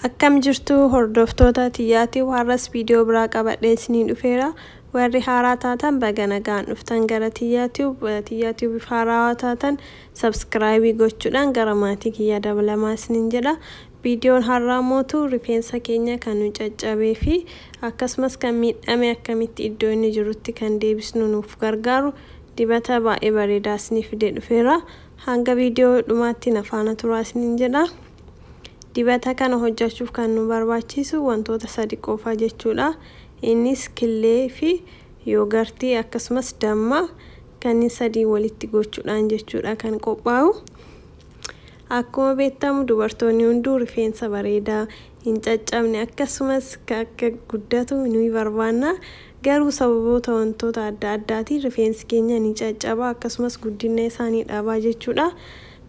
Akkam jirtuu hordoftoota tiyyaa tube har'as video biraa qabadhee isiniin dhufeera warri haaraa taatan baga nagaan dhuftan gara tiyyaa tube tiyyaa tube if haaraawaa taatan subscribe gochuudhaan gara maatii kiyyaa dabalamaa isiniin jedha viidiyoon har'aa mootu rifeensa keenya kan nu caccabee fi akkasumas kan miidhame akkamitti iddoo inni jirutti kan deebisnu nuuf gargaaru dibata baay'ee bareedaa isiniif fidee dhufeera hanga viidiyoo dhumaatti na faana turaa isiniin jedha. Dibata kana hojjachuuf kan nu barbaachisu wantoota sadi qofa jechuudha. Innis killee fi yoogartii akkasumas damma kanneen sadii walitti gochuudhaan jechuudha kan qophaa'u. Akkuma beektamu dubartoonni hunduu rifeensa bareedaa hin caccabne akkasumas akka guddatu ni barbaanna. Garuu sababoota wantoota adda addaatiin rifeensi keenya ni caccaba akkasumas guddina isaa ni dhabaa jechuudha.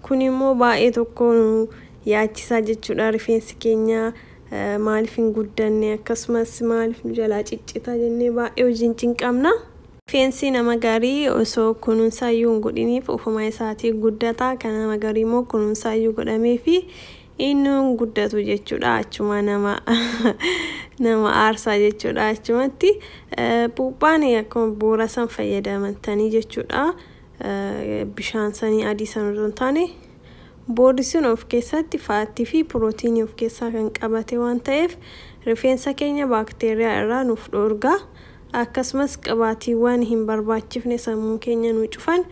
Kuni immoo baay'ee tokko nu yaachisaa jechuudha. Rifeensi keenya maaliif hin guddanne akkasumas maaliif nu jalaa ciccita jennee baay'ee hojiin cinqamna. Rifeensi nama garii osoo kunuunsaa iyyuu hin godhiniif ofuma isaatii guddata. Kan nama garii immoo kunuunsaa iyyuu godhameefi inni hin guddatu jechuudha. Achuma nama nama aarsaa jechuudha achumatti. Puuphaan akkuma bu'uura san fayyadamtanii jechuudha. bishaan sanii adii san osoo hin taane boordi sun of keessatti faattii fi pirootiinii of keessaa kan qabate waan ta'eef rifeensa keenya baakteeriyaa irraa nuuf dhoorga akkasumas qibaatiiwwan hin barbaachifne sammuu keenya nu cufan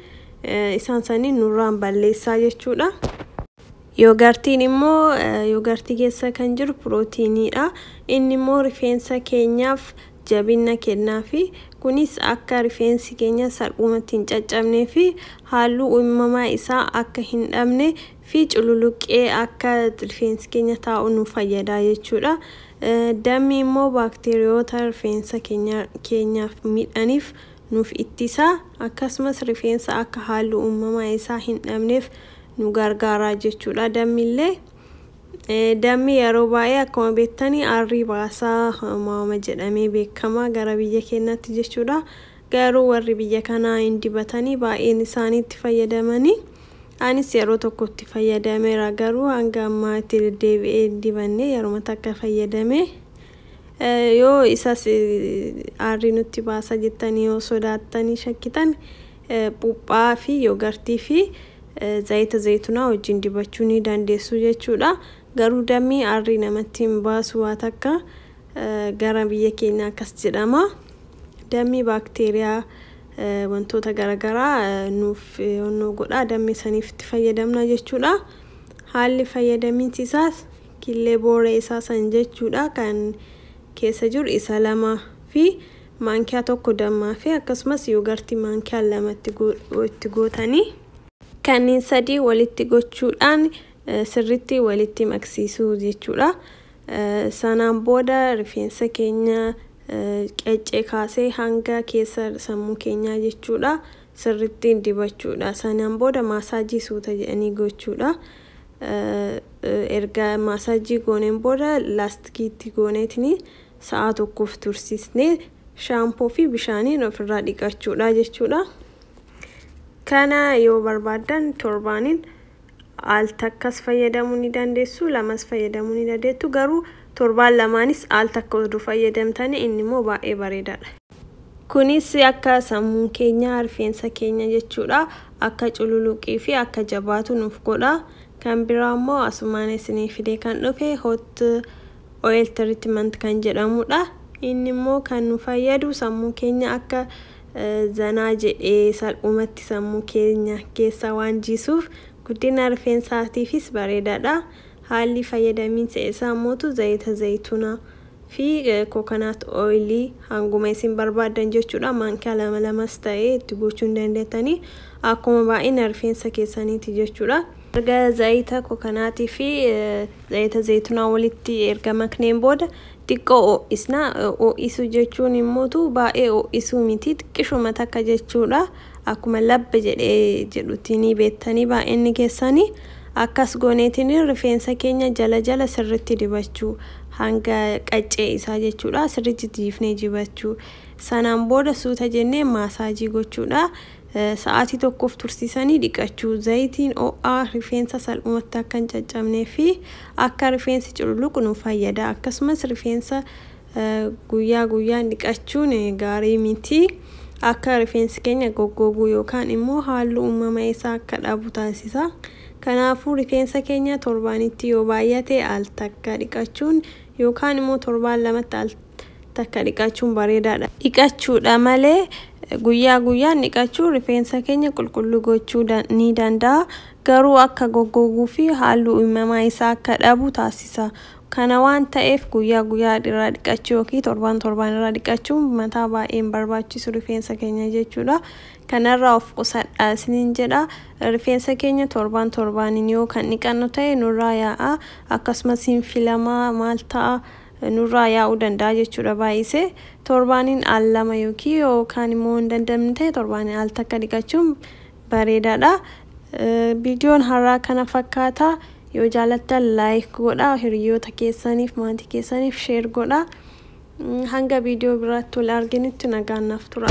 isaan sanii nurraan balleessaa jechuudha. Yoogartiin immoo yoogartii keessa kan jiru pirootiiniidha. Inni immoo rifeensa keenyaaf jabinna kennaafi. Kunis akka rifeensi keenya salphumatti hin caccabnee fi haalluu uimamaa isaa akka hin dhabne fi cululuqqee akka rifeensi keenya taa'u nu fayyada jechuudha. Dammi immoo baakteeriyoota rifeensa keenya keenyaaf midhaniif nuuf ittisa. Akkasumas rifeensa akka haalluu uumamaa isaa hin dhabneef nu gargaara jechuudha dammillee. Dammi yeroo baay'ee akkuma beektani aarrii baasaa maama jedhamee beekama gara biyya keenyaatti jechuudha. Garuu warri biyya kanaa hin dibatanii baay'een isaanii itti fayyadamanii anis yeroo tokko itti fayyadameera garuu hanga ammaa itti deddeebi'ee hin dibanne yeruma takka fayyadame. Yoo isas aarrii nutti baasa jettanii yoo sodaattanii shakkitan phuuphaa fi yogartii fi zayita zaytunaa wajjin dibachuu ni dandeessu jechuudha. Garuu dammi arrii namatti hin baasu waa takka gara biyya keenya akkas jedhama. Dammi baakteeriyaa wantoota garagaraa nuuf onnoo godhaa dammi saniif itti fayyadamna jechuudha. Haalli fayyadaminsi isaas killee booree isaa san jechuudha kan keessa jiru isa lama fi maankiyaa 1 dammaa fi akkasumas yoogartii maankiyaa 2 itti gootanii kanniin sadii walitti gochuudhaan sirritti walitti maksiisuu jechuudha. Sanaan booda rifeensa keenya qaccee kaasee hanga keessa sammuu keenyaa jechuudha sirritti dibachuudha. Sanaan booda maasaajii suuta jedhanii gochuudha. Erga maasaajii gooneen booda laastikiitti gooneetini sa'aa tokkoof tursiisnee shaampoo fi bishaaniin ofirraa dhiqachuudha jechuudha. Kana yoo barbaaddan torbaaniin al takkas fayyadamuu ni dandeessu lamas fayyadamuu ni dandeettu garuu torbaan lamaanis al takka oduu fayyadamtanii inni immoo baay'ee bareedaadha. Kunis akka sammuun keenya rifeensa keenya jechuudha akka cululuqii fi akka jabaatu nuuf godha. Kan biraa immoo asumaan isinii fidee kan dhufe hot Oil treatment kan jedhamudha. Inni immoo kan nu fayyadu sammuu keenya akka zanaa jedhee salphumatti sammuu keenya keessa waan jiisuuf guddina rifeensaatiifis bareedaadha. Haalli fayyadamiinsa isaa mootu zayita zayituna fi coconut oil hanguma isin barbaaddan jechuudha. Maankaa lama lamas ta'ee itti gochuu ni dandeettanii akkuma baay'ina rifeensa keessaniiti jechuudha. Erga zayita kokanaatii fi zayita zaytunaa walitti erga makneen booda xiqqoo oo'isna. Oo'isuu jechuun immootu baay'ee oo'isuu miti xiqqishuma takka jechuudha. Akkuma labba jedhee jedhutti ni beektanii baay'inni keessanii. Akkas gooneetiin rifeensa keenya jala jala sirritti dibachuu hanga qaccee isaa jechuudha sirritti jiifnee jibachuu. Sanaan booda suuta jennee maasaajii gochuudha. Sa'aatii tokkoof tursiisanii dhiqachuu. Zayitiin ho'aa rifeensa salphumatti akka hin caccabnee fi akka rifeensi cululuqu nu fayyada. Akkasumas rifeensa guyyaa guyyaan dhiqachuun gaarii miti. Akka rifeensi keenya goggoguu yookaan immoo halluu uumama isaa akka dhabu taasisa. Kanaafuu rifeensa keenya torbaanitti yoo baay'ate al takka dhiqachuun yookaan immoo torbaan lamatti al takka dhiqachuun bareedaadha. Dhiqachuudha malee guyyaa guyyaan dhiqachuu rifeensa keenya qulqulluu gochuu ni danda'a garuu akka goggoguu fi halluu uumamaa isaa akka dhabu taasisa. Kana waan ta'eef guyyaa guyyaa irraa dhiqachuu yookiin torbaan torbaan irraa dhiqachuun mataa baay'ee hin barbaachisu rifeensa keenya jechuudha. Kanarraa of qusadhaa isiniin jedha. Rifeensa keenya torbaan torbaaniin yoo kan dhiqannu ta'e nurraa yaa'a akkasumas hin filamaa maal ta'a. nurraa yaa'uu danda'a jechuudha baay'isee torbaaniin al lama yookiin yoo kaan immoo hin dandamne ta'e torbaaniin al takka dhiqachuun bareedaadha. Viidiyoon har'aa kana fakkaata yoo jaalattan laayik godhaa hiriyoota keessaniif maatii keessaniif sheer godhaa hanga viidiyoo biraatti wal arginutti nagaan naaf tura.